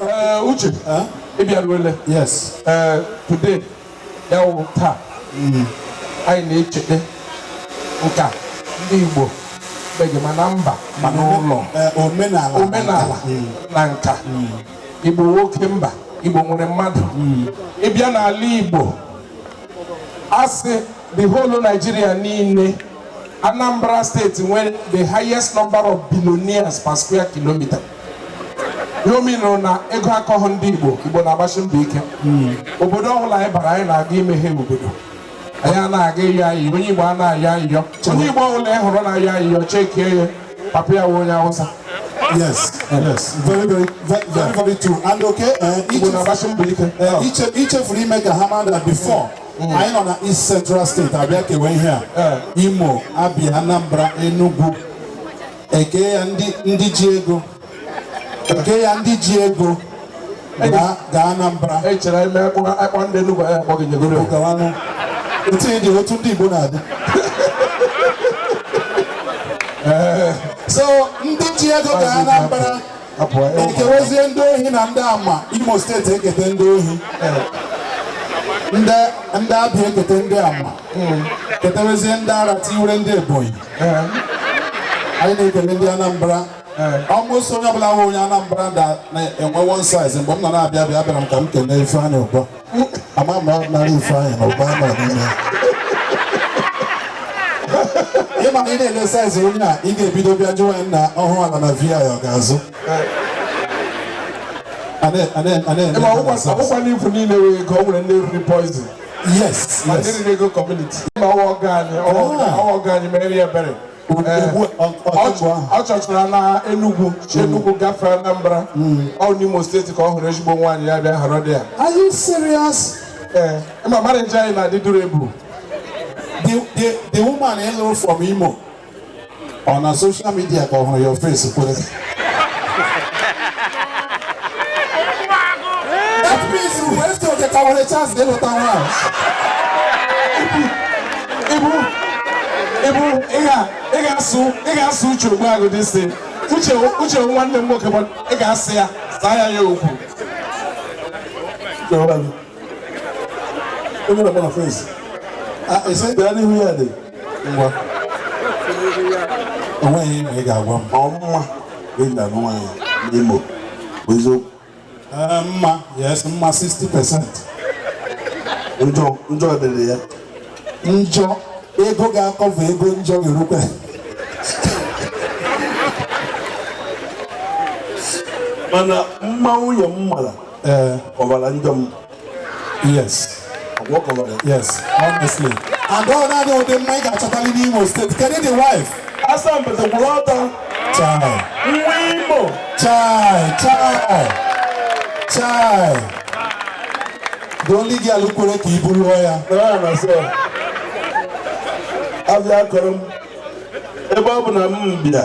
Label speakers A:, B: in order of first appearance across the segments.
A: Ee, uche ị bịaruole yes
B: ee
A: today ya wụ taa anyị na-echeta nka ndị igbo beghị ma na mba ma n'ụlọ Ee, omenala omenala na nka igbo nwoke mba igbo nwere mmadụ ị bịa n'ala igbo a sị the whole Nigeria niile Anambra steeti nwere the highest number of billionaires per square kilometer Ọ minụrụ na ego akọghị ndị Igbo Igbo na-agbasi mbọ ike hmm. obodo ọbụla anyị bara anyị na-aga imeghe obodo anyị a na-aga ịyọ ayịyọ onye Igbo anaghị ayọ ayịyọ onye Igbo ọbụla ị hụrụ na-ayọ ayịyọ chekie ya papa ya wụ onye Awụsa
B: yes yes very very very very true and okay eh, Igbo na-agbasi mbọ ike eh, i chefuru ime ka ha mara that before hmm. anyị nọ na East Central State a bịa kewe ihe a eh. Imo Abia Anambra Enugu e kee ndị ji ego e kee ndị ji ego gaa Anambra echere ime akpọ
A: ndị Enugu ya akpọ gị nyegoro otu
B: dị otu ndị Igbo na-adị eh. so ndị ji ego gaa Anambra e kewezie ndị ohi na ndị ama Imo steeti ekete ndị ohi eh. ndị Abia ekete ndị ama hmm. ketewezie ndị ara tiwere ndị Ebonyi anyị na-ekele ndị Anambra almost onye ọbụla wụ onye Anambra na-enwe one size mgbe m nọ na-abịa abịa abịara m ka m kelee Ifeanyị Ụba ama m ọdịnala Ifeanyị na Ụba nọ n'ime ịma na ị na-ele size onye a ị ga-ebido bịa jụwa ya nna ọ hụ ala na VI ọ ga-azụ ọgwụkwa
A: n'ifu niile wee ka o nwere ndị riri poison yes
B: ma yes dịrị ego
A: community ma ọ wụ ọgọ anyị ọ wụ ọgọ- Ah. ọ wụ ọgọ anyị mere ya ebere Ugbu- Eh, ugbu a, ọ- ọ- ọ chọ- ọ chọchara na Enugu si Enugu gafee Anambra ọ n'Imo steeti ka ọ hụrụ ezigbo nwaanyị ya bịa họrọ dị ya are
B: you serious ee ma
A: mara nje anyị na-adị duru ebu the
B: the the woman ị lụrụ from imo ọ na social media ka ọ hụrụ ya ofesi kwere that means mgbe esi oke ka nwere chance ịlụta nwaanyị ịbụ
A: ịbụ ị ga-asụ ị ga-asụ Uche Ogbuagụ dị isi uche uche nwanne m nwoke ị ga-asị ya zaa ya ya
B: okwu onye na-agba na fesi ese bịara n'ihu ya dị ngwa o nweghị ma ị ga-agwa m ọ mma ịda nwaanyị n'Imo bụ eziokwu ee mma yes mma 60 percent njọ njọ dịrị ya njọ ego ga-akọva ego njọ
C: ga-erukwe mana mma nwunye m mara ee ọ bara njọ m yes yes
B: honestly and ọ naanị ụdị mma ị ga-achọtali n'Imo steeti kedu the wife asampete kwụrụ
C: ọtọ chai
B: nwa Imo
C: chai
B: chai chai the only girl kwere ka Ibu lụọ
C: ya abịa kọrọ m ebe ọ bụ na m bịa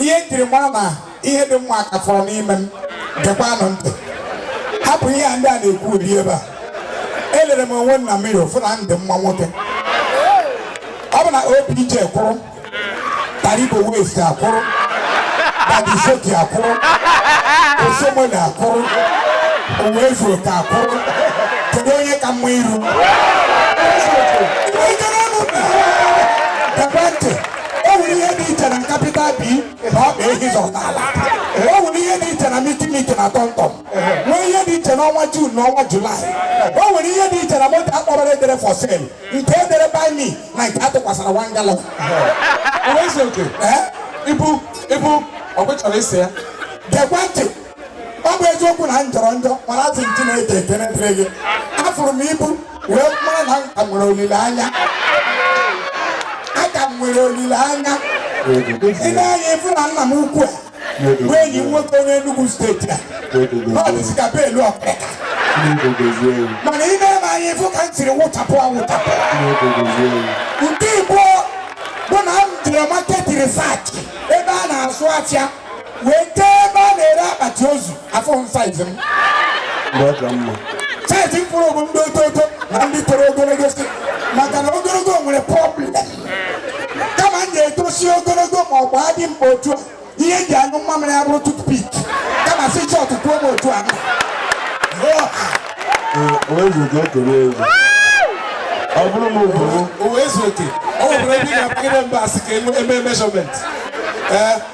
B: ihe nkiri mara na ihe dị mma ka fọrọ n'ime m gekwanụ ntị hapụ ihe a ndị a na-ekwu ụdị ebe a elere m onwe m na mirror fụ na m dị mma nwoke ọ bụ na OBJ kwụrụ Taribo West akwụrụ Badisoki akwụrụ Oshiomhole akwụrụ Uwaezuoke akwụrụ kedu onye ka mma iru Ike n'ọnụ! Gekwa ntị! o nwere ihe dị iche na capital B na ọkpa ehi zọta ala o nwere ihe dị iche na mitimiti na tọmtọm nwee ihe dị iche n'ọnwa jun na ọnwa julaị o nwere ihe dị iche na moto akpọrọ edere for sale nke edere buy me na nke atụkwasara one gallon
A: Uwaezuoke Ibu ibu ọ bụ chọrọ isi ya? gekwa ntị
B: ọ bụ eziokwu na m jọrọ njọ mana asị m Chineke ekene dịrị gị afụrụ m Ibu wee mara na m ka nwere olileanya aka m nwere olileanya i nee anya ị fụ na nna m ukwu a bụ enyi m nwoke onye Enugu steeti a na ọ dịsị ka belu okrika mana i nee m anya ị fụ ka m siri wụchapụ awụchapụ nke ịbụọ bụ na m jere market research ebe a na-azụ afịa wee jee ebe a na-ere akpati ozu afụrọ m size m size m fụrụ bụ ndị oto oto na ndị toro ogologo si maka na ogologo nwere problem kama m ga-etosi ogologo ma ọ gbaa dị mkpa otu a ihe m ji anyụ mmamịrị ya bụrụ toothpick kama sị short gbuo m otu a ọ bụrụ m obodo
C: Uwaezuoke o nwere
A: ebe ị ga-akpagide mba asị ka e mee measurement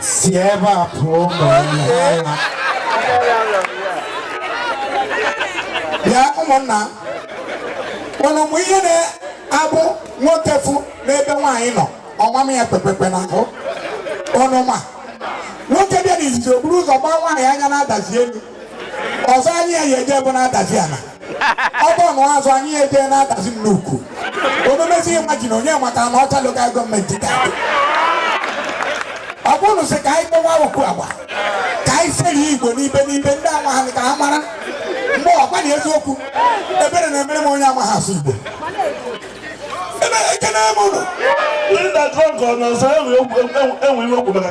B: si ebe a pụọ ma ya ụmụnna ụnụ ma ihe na-abụ nwoke fụ n'ebe nwaanyị nọ ọ na-ama ya kpekpekpe n'ahụ ụnụ ma nwoke bịa n'izizi o buru ụzọ gbaa nwaanyị anya na-adazi elu ọzọ anyị ya eje bụ na-adazi ala ọ bụ na azụ anyị ya eje na-adazi m n'ukwu omemezi imagine onye maka Anaocha local government ka ọ bụrụ sị ka anyị kpọwa okwu agba ka anyị seri Igbo n'ibe n'ibe ndị amaghị ka ha mara mgbe ọgwa na eziokwu ebere na-emere m onye amaghị asụ Igbo ebe ekene m ụlọ ndị na-adrọgọ
C: n'ọzọ enwe okwu maka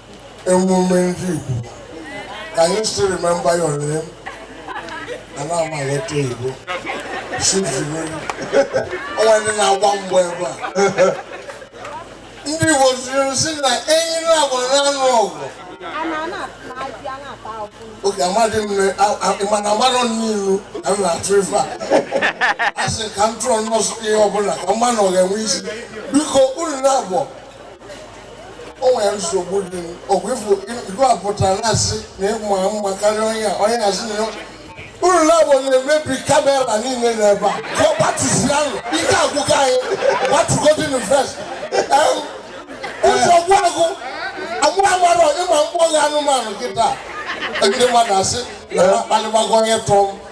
D: emume ndị Igbo can you still remember your name na na-ama alọta Igbo o nwe ndị na-agba mgbọ ebe a ndị Igbo siri sị na enyi na-abụ na-anụ ọgụ oge amadị m mana amarọ na ilu ka m na-atụ ife a a sị ka m tụọ nọọsụ ihe ọbụla ka mma na ọ ga-enwe isi biko unu na-abụọ o nwere nsogbu dị ọgwụ ifu igu apụtara na-asị na ịma mma karịa onye a onye asị na unu na-abụọ na-emebi kamera niile n'ebe a ka ọ gbatịsịa nụ ike agwụka anyị gbatịgodin face ụzọ gwụ agụ amụ amarọ ịma mkpọghị anụmanụ kịta ndị mmadụ asị na akpalịgbago onye tụọ m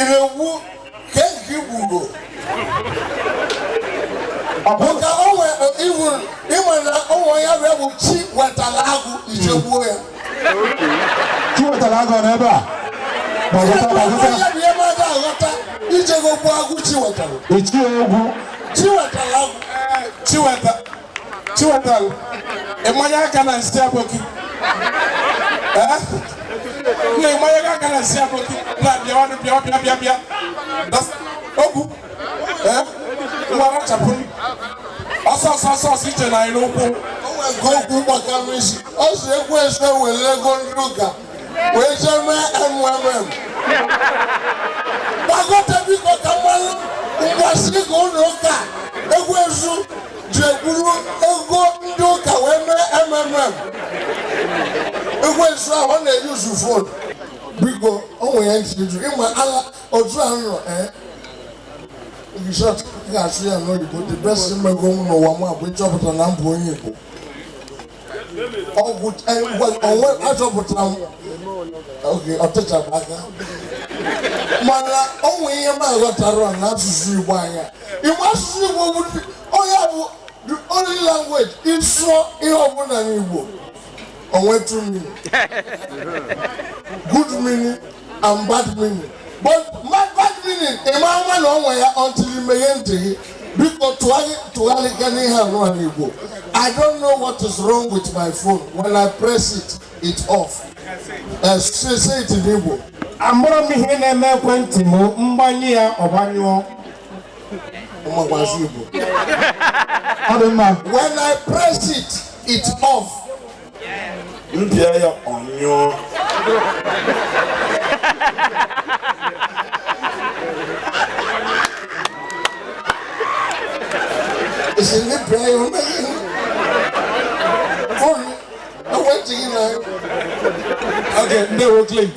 D: irewu ka eji gburu maka onwe iwu ịma na ụmụ ya bụ bụ Chiwetalụ Agụ i je gbuo ya
B: Chiwetalụ Agụ n'ebe
D: a aghọta i jego gbuo agụ Chiwetalụ Ichie Ọgwụ
B: Chiwetalụ
D: Agụ Chiwetalụ
A: Chiwetalụ ịmanye aka na nsị aboki eh? na ịmanye aka na nsị aboki na bịawanụ bịa bịa bịa bịa Ọgwụ eh? ngwa rachapụ ọsọ ọsọ ọsọ ọsọ i che na anyị na-ekwu nke okwu
D: gbakara isi ọ sị ekwensu were ego ndị ụka wee jee mee MMM gbagote biko ka m manụ ngwasị ka ụlọ ụka ekwensu ji eburu ego ndị ụka wee mee MMM ekwensu ahụ ọ na-eyuzu phone biko o nwere ya ntị jụ ịma ala otu a nọ ee Bishọp ga-asụ ya n'oyibo the best m mego n'ụwa m a bụ ịchọpụta na m bụ onye Igbo ọ bụ onwe achọpụtara m oge ọtụchapụ aka mana o nwe ihe m aghọtara na asụsụ Igbo anya Igbo asụsụ Igbo bụ onye bụ the only language ị sụọ ihe ọbụla n'Igbo o nwee two meaning good meaning and bad meaning but bad meaning ị ma ama na o nwe ya until i meghe ntị gị biko tụgharịkene ihe nụwa n'igbo i don't know what is wrong with my phone when i press it it off uh, say, say it in igbo amarọ m
A: ihe na-eme ekwentị m m gbanye ya ọ gbanyụọ ọmagbazi igbo
D: ọ dị mma when i press it it off m pịa ya ọ nyụọ ị sị na ị pịa ya ọ
A: nyụọ fon
D: ekwentị gị
A: na okay ndewo
D: clint